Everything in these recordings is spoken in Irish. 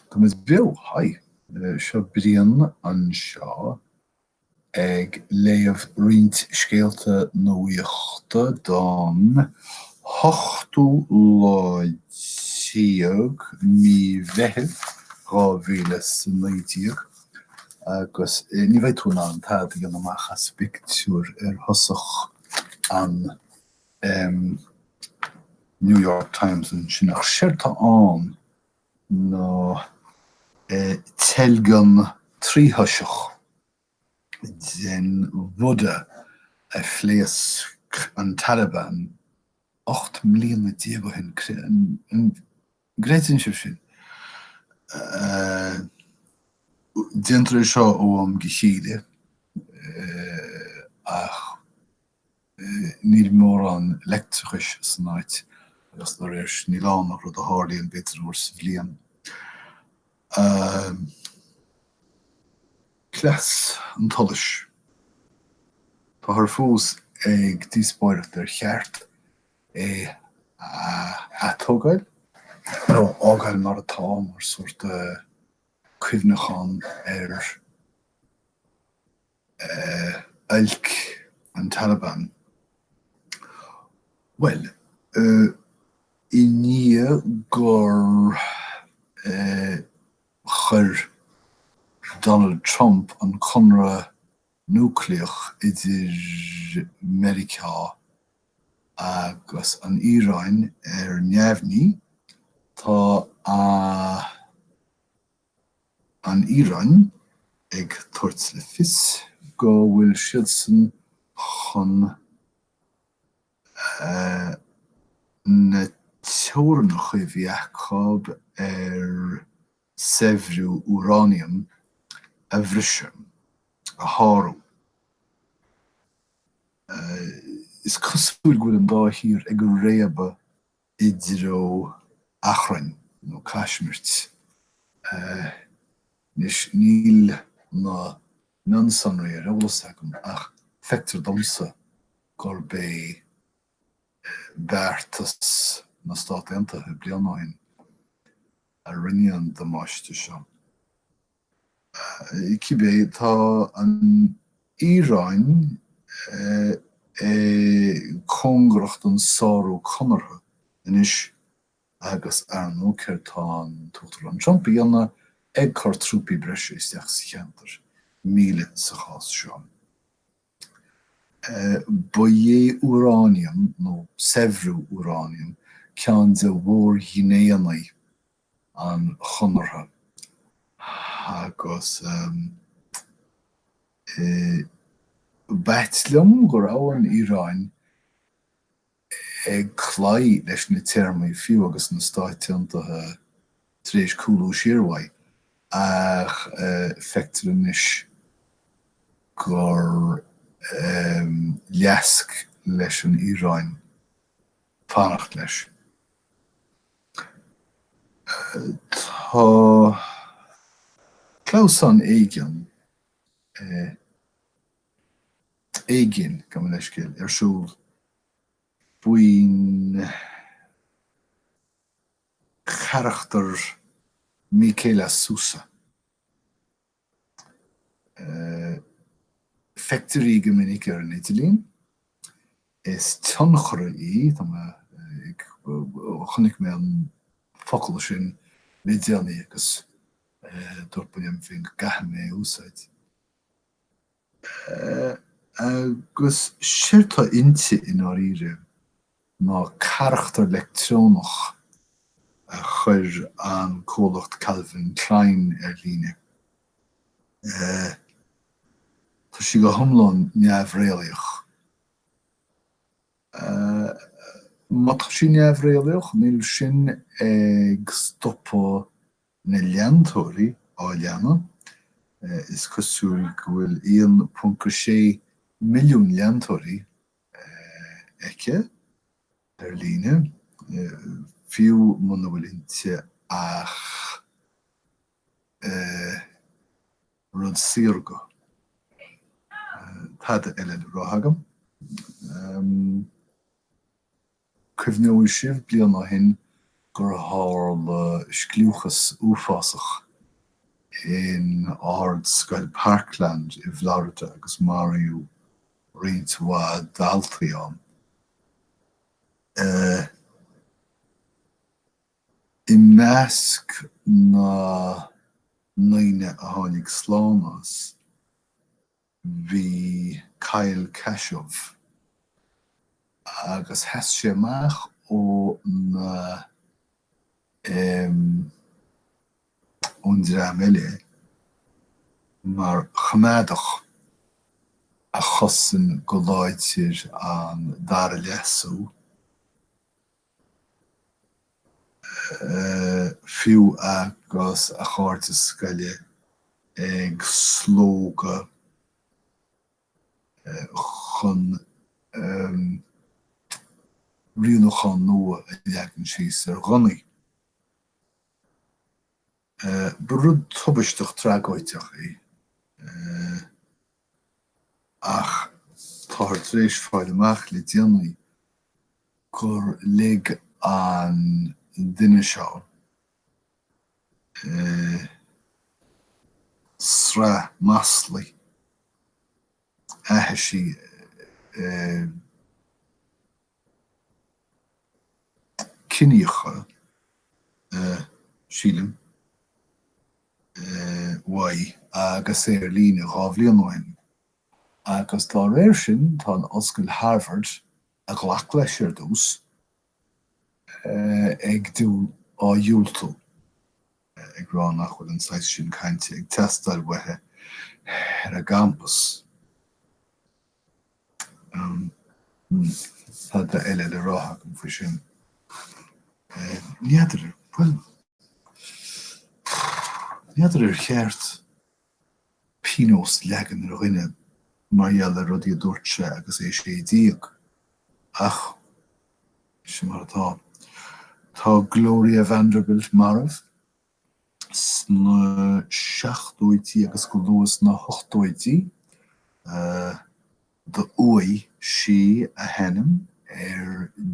Tá muid beo, haigh! Seo Brian anseo ag léamh roinnt scéalta nuachta don hochtú lá déag mí Mheithimh, dhá mhíle 's a naoi déag, agus ní bheidh tú in ann tada a dhéanamh amach as an bpictiúr ar thosach an. em New York Times ansin ach séard tá ann ná eh teilgean tríthoiseach den Bhuddha a phléasc an Taliban ocht mbliana déag ó shin, cre, an gcreideann sibh sin? eh déantar é seo ó am go chéile, eh ach. Níl mórán leictreachais san áit agus dá réir sin níl ann ach rud a tharlaíonn b'fhéidir uair sa bhliain. Cleas an tsolais. Táthar fós ag díospóireacht ar cheart é a atógáil nó a fhágáil mar atá mar sórt cuimhneachán ar oilc an Taliban. Bhuel, i ndiaidh gur chuir Donald Trump an conradh núicléach idir Meiriceá agus an Iaráin ar neamhní, tá a. An Iaráin, ag tabhairt le fios go bhfuil siadsan chun na teorannacha a bhí acu ar shaibhriú úráiniam a bhriseadh, a shárú. Is cosúil go bhfuil an dá thír ag réabadh i dtreo achrainn nó caismirte. Anois, níl na mionsonraí ar eolas agam ach feictear domsa gurb é beartas na Stát Aontaithe bliain ó shin a rinne an damáiste seo. Cibé, tá an Iaráin cóngarach don sárú conartha anois agus, ar ndóigh, céard tá an tUachtarán Trump a dhéanamh ag cur trúpaí breise isteach sa cheantar, míle sa chás seo. Ba é úráiniam, nó saibhriú úráiniam, ceann de mhórghnéithe an Chonartha agus b'ait liom go raibh an Iaráin ag cloí leis na téarmaí, fiú agus na Stáit Aontaithe tar éis cúlú siar uaidh, ach feictear anois gur leasc leis an Iaráin fanacht leis. Tá clamhsán éigin, eh. éigin, gabh mo leithscéal, ar siúl faoin gcarachtar Miquela Sousa. Feictear í go minic ar an idirlíon. Is tionchaire í, tá mé ag, chonaic mé an focal sin le déanaí agus dúirt mé liom féin go gcaithfidh mé é a úsáid. Agus séard tá inti, i ndáiríre, ná carachtar leictreonach a chuir an comhlacht Calvin Klein ar líne. Tá sí go hiomlán neamhréalaíoch. Má tá sí neamhréalaíoch, níl sin ag stopadh na leantóirí á leanadh, is cosúil go bhfuil 1.6 milliún leantóirí aici ar líne, fiú muna bhfuil inti ach rud saorga, tada eile le rá agam. Cuimhneoidh sibh bliain ó shin gur tharla scliúchas uafásach in Ardscoil Parkland i bhFlorida agus maraíodh roinnt mhaith daltaí ann. I measc na ndaoine a tháinig slán as, Bhí Kyle Kashuv agus sheas sé amach ó na, em. ón dream eile mar choimeádach a chosain go láidir an dara leasú. fiú agus a chairde scoile ag slógadh chun rialúchán nua a leagan síos ar ghunnaí. Ba rud tubaisteach tragóideach é, ach táthar tar éis fáil amach le déanaí gur lig an duine seo sraith maslaí aithise ciníocha, sílim, uaidh agus é ar líne dhá bhliain ó shin. Agus dá réir sin, tá an Ollscoil Harvard, a ghlac leis ar dtús, ag dhá dhiúltú, ag rá nach bhfuil an saghas sin cainte ag teastáil uathu ar a gcampas. Tada eile le rá agam faoi sin? N'fheadar, bhuel, n'fheadar ar cheart pionós leagan ar dhuine mar gheall ar rudaí a dúirt sé agus é sé déag, ach sin mar atá. Tá Gloria Vanderbilt marbh. Sna seachtóidí agus go luath sna hochtóidí d'fhuaigh sí a hainm ar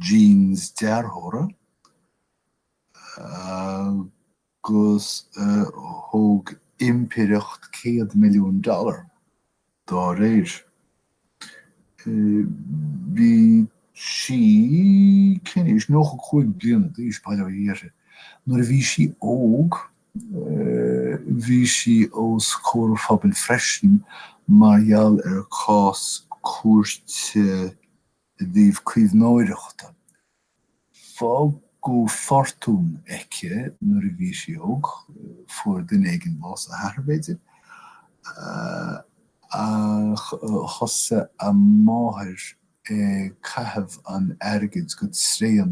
jeans dearthóra agus thóg impireacht céad milliún dollar dá réir. Bhí sí cén aois? Nócha cúig bliana d'aois, bail ó Dhia uirthi. Nuair a bhí sí óg bhí sí os comhair an phobail freisin mar gheall ar cás cúirte i dtaobh caomhnóireachta Fágadh fortún aici nuair a bhí sí óg, fuair duine éigin bás, a hathair b'fhéidir, ach thosaigh a máthair ag caitheamh an airgid go tréan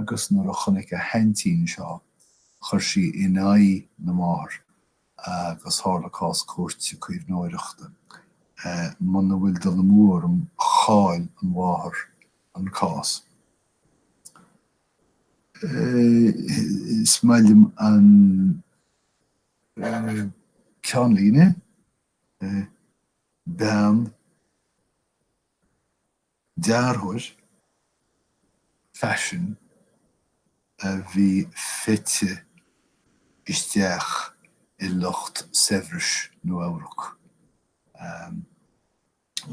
agus nuair a chonaic a haintín seo, chuir sí in aghaidh na máthar. agus tharla cás cúirte caomhnóireachta. Muna bhfuil dul amú orm, chaill an mháthair an cás. Is maith liom an ceannlíne, Bean dearthóir faisin a bhí fite isteach i lucht saibhris Nua-Eabhrac.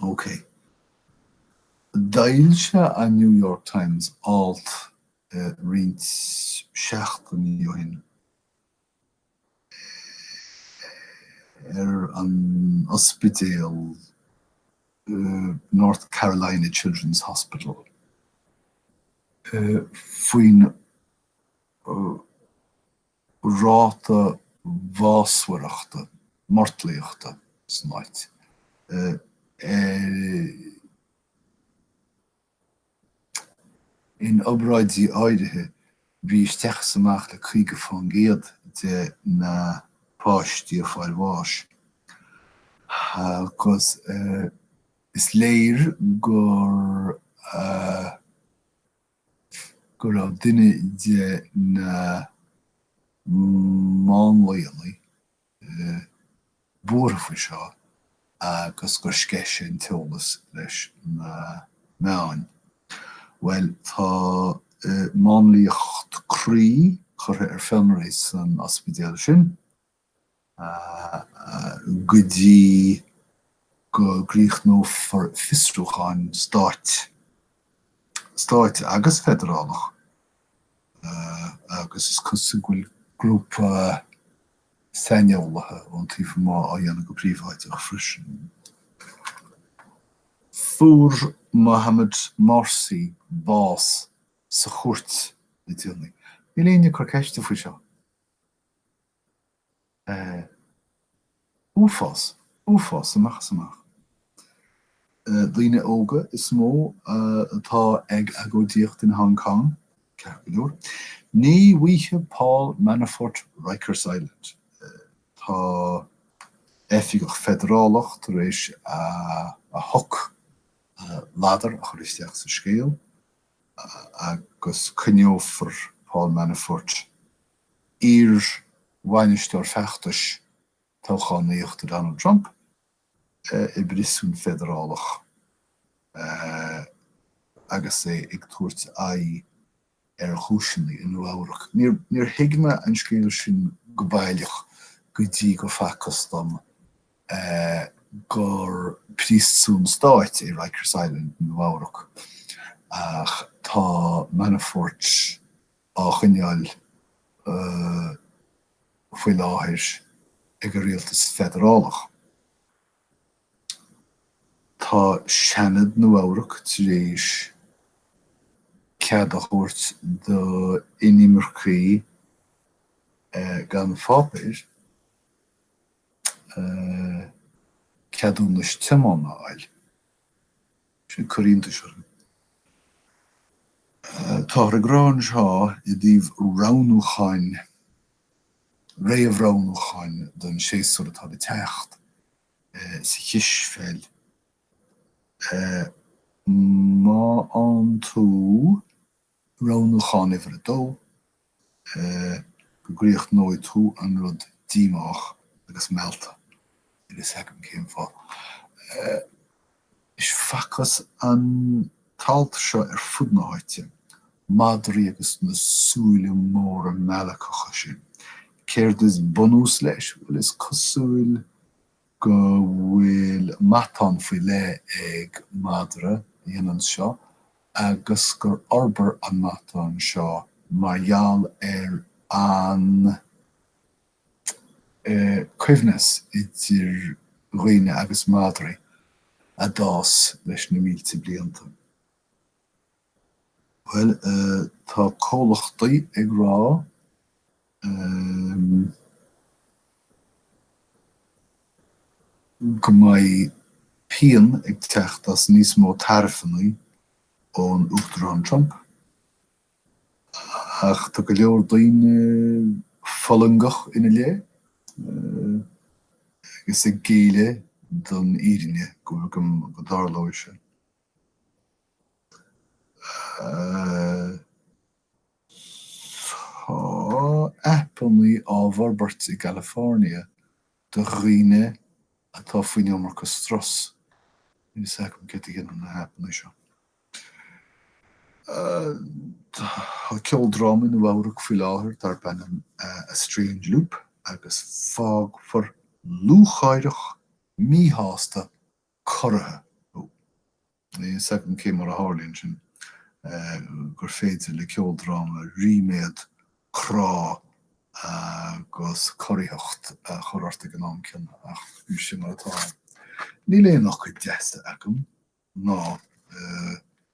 Ócé. D'fhoilsigh an New York Times alt roinnt seachtainí ó shin. ar an ospidéal North Carolina Children's Hospital faoin ráta bhásmhaireachta, mortlaíochta, san áit, ar In obráidí áirithe bhí isteach is amach le caoga faoin gcéad de na páistí ag fáil bháis, agus is léir gur go raibh duine de na máinlianna buartha faoi seo agus gur sceith sé an t-eolas leis na meáin. Bhuel, tá máinliacht croí curtha ar fionraí san ospidéal sin go dtí go gcríochnófar fiosrúcháin stáit, stáit agus feidearálach, agus is cosúil go bhfuil grúpa, saineolaithe ón taobh amuigh á dhéanamh go príobháideach freisin. Fuair Mohammed Morsi bás sa chúirt le déanaí. Níl éinne ag cur ceiste faoi seo. Uafás. Uafás amach is amach. Daoine óga is mó atá ag agóidíocht in Hong Cong, ceart go leor. Ní fheicfidh Paul Manafort Rikers Island. Tá oifigeach feidearálach tar éis a a shoc, a ladar, a chur isteach sa scéal agus coinneofar Paul Manafort, iarbhainisteoir feachtais toghchánaíochta Donald Trump, i bpriosún feidearálach agus é ag tabhairt aghaidh ar chúiseanna i Nua Eabhrac. Níor thuig mé an scéal sin go baileach go dtí gur facthas dom gur priosún stáit é Rikers Island i Nua Eabhrac, ach tá Manafort, á choinneáil faoi láthair ag an rialtas feidearálach. Tá Seanad Nua-Eabhrac tar éis cead a thabhairt d'inimircigh gan pháipéir ceadúnas tiomána a fháil. Sin cúis iontais orm. Táthar ag rá anseo i dtaobh roghnúcháin, réamhroghnúcháin don séasúr atá le teacht sa chispheil, más ann tú, Roghnúchán Uimhir 2, Go gcríochnóidh tú an rud díomách agus meallta. Bhuel, sea, cén fáth? Anois, facthas an t-alt seo ar fud na háite, madraí agus na súile móra meallacha sin. Céard is bunús leis? Bhuel, is cosúil. go bhfuil matán faoi leith ag madra a dhéanann seo agus gur fhorbair an matán seo mar gheall ar an gcoibhneas idir dhaoine agus madraí a d'fhás leis na mílte blianta. Bhuel, tá comhlachtaí ag rá, em, go mbeidh pian ag teacht as níos mó taraifeanna ón Uachtarán Trump, ach tá go leor daoine fulangach ina leith, eh, agus ag géilleadh don fhírinne, go dtarlóidh sé. Tá aipeanna á bhforbairt i gCalifornia do dhaoine atá faoin iomarca strus. Níl fhios agam céard a dhéanann na haipeanna seo. Tá ceoldráma i Nua Eabhrac faoi láthair darb ainm A Strange Loop agus fágfar lúcháireach, míshásta corraithe thú. Níl a fhios agam cé mar a tharlaíonn sin gur féidir le ceoldráma ríméad, crá agus corraitheacht a chur ort ag an am céanna, ach sin mar atá. Níl aon fhocail deasa agam ná.